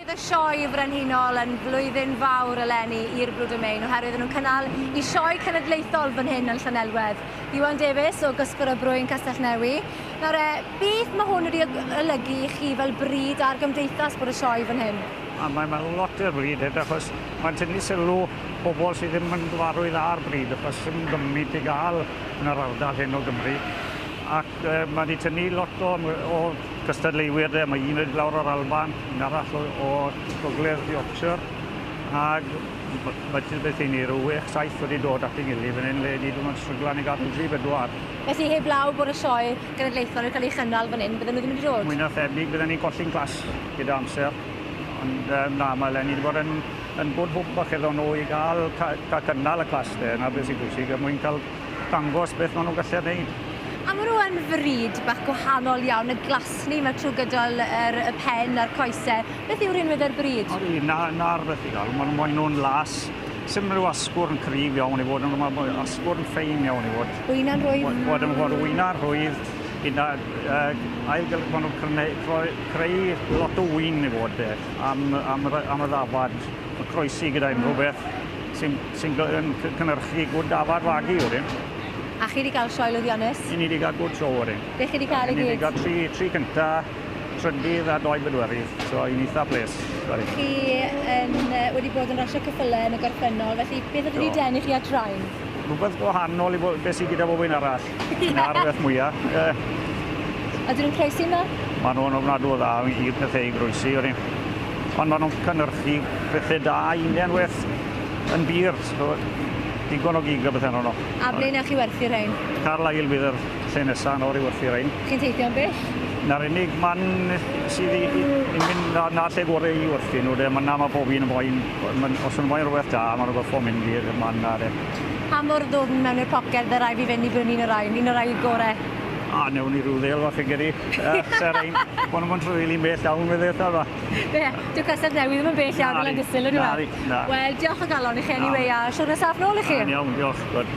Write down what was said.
Roedd y Sioe Frenhinol yn flwyddyn fawr eleni i'r Blue Domain oherwydd yn nhw'n cynnal i sioe cenedlaethol fan hyn yn Llanelwedd. Iwan Davies o Gysgwr y Brwyn Castellnewi. Nawr e, beth mae hwn wedi olygu i chi fel bryd ar gymdeithas bod y sioe fan hyn? A mae, mae lot o'r bryd hyn achos mae'n tynnu sylw pobl sydd ddim yn gyfarwydd â'r bryd achos sy'n gymmit i gael yn yr ardal hyn o Gymru ac mae wedi tynnu lot o, o gystadleuwyr de. Mae un wedi lawr o'r Alban, un arall o, o Gogledd Yorkshire ac mae ti beth i ni, rhyw 6-7 wedi dod at ei gilydd fan hyn le ni ddim yn stryglan i gadw 3-4. Felly heb law bod y sioe genedlaethol yn cael ei chynnal fan hyn, bydden nhw ddim wedi dod? Mwy na thebyg bydden ni'n colli'n clas gyda amser. Ond um, na, mae Lenny wedi bod yn yn good hope falle iddon nhw i gael, cael cynnal y clas de, na beth sy'n bwysig, er mwyn cael dangos beth maen nhw'n gallu gwneud. A maen nhw yn fryd bach gwahanol iawn, y glasni mae trwy gydol yr, y pen a'r coesau. Beth yw rhinwedd e'r bryd? O, na, na'r beth i gael, maen maen nhw'n las. Sym rhyw asgwrn cryf iawn i fod, ond mae asgwrn ffein iawn i fod. Wyna'n rhwydd. Bod yn fod wyna'n rhwydd, gyda uh, ailgylch maen nhw'n creu, creu lot o wyn i fod. am, am, am y ddafad, y croesi gyda unrhyw beth sy'n sy cynhyrchu gwrdd dafad fagu wedyn. A chi wedi cael sioe lwyddiannus? I ni wedi cael gwrdd sioe wedyn. Be chi wedi cael i gyd? I ni wedi cael tri, tri cynta, trydydd a doi bedwerydd, so i'n eitha ples. Chi yn, wedi bod yn rasio cyffylau yn y gorffennol, felly beth oedd wedi denu chi at rain? Rhywbeth gwahanol i beth sydd gyda bob un arall. Na'r beth mwyaf. A dyn nhw'n croesi yna? Maen nhw'n ofnadw o dda i pethau i groesi. Ond maen nhw'n cynnyrchu pethau da union weth yn bir. So, digon o gig a bethau nhw. A ble na chi werthu rhain? Carlisle bydd yr lle nesaf yn o'r i werthu rhain. Chi'n teithio yn bell? Na'r unig man sydd i, i, i mynd na, na lle gorau i werthu nhw. De. Mae na mae pob un yn boen, os yn boen rhywbeth da, mae'n rhywbeth o mynd i'r man na. De. Reit. Pa mor ddwfn mewn i'r poced fy rai fi fynd i brynu un o'r rhain? Un o'r rhai gore? O, newn ni ryw ddêl fach fi'n credu. Yy, sa rhain, ma' nw'm yn tr- rili'n bell iawn fydd e, ta fe? Be? Dyw Castell Newydd ddim yn bell iawn o Landysul on'd yw e? Nadi, nadi, na. Wel, diolch o galon i chi anyway a siwrne saff nôl i chi. Da'n iawn, diolch, good.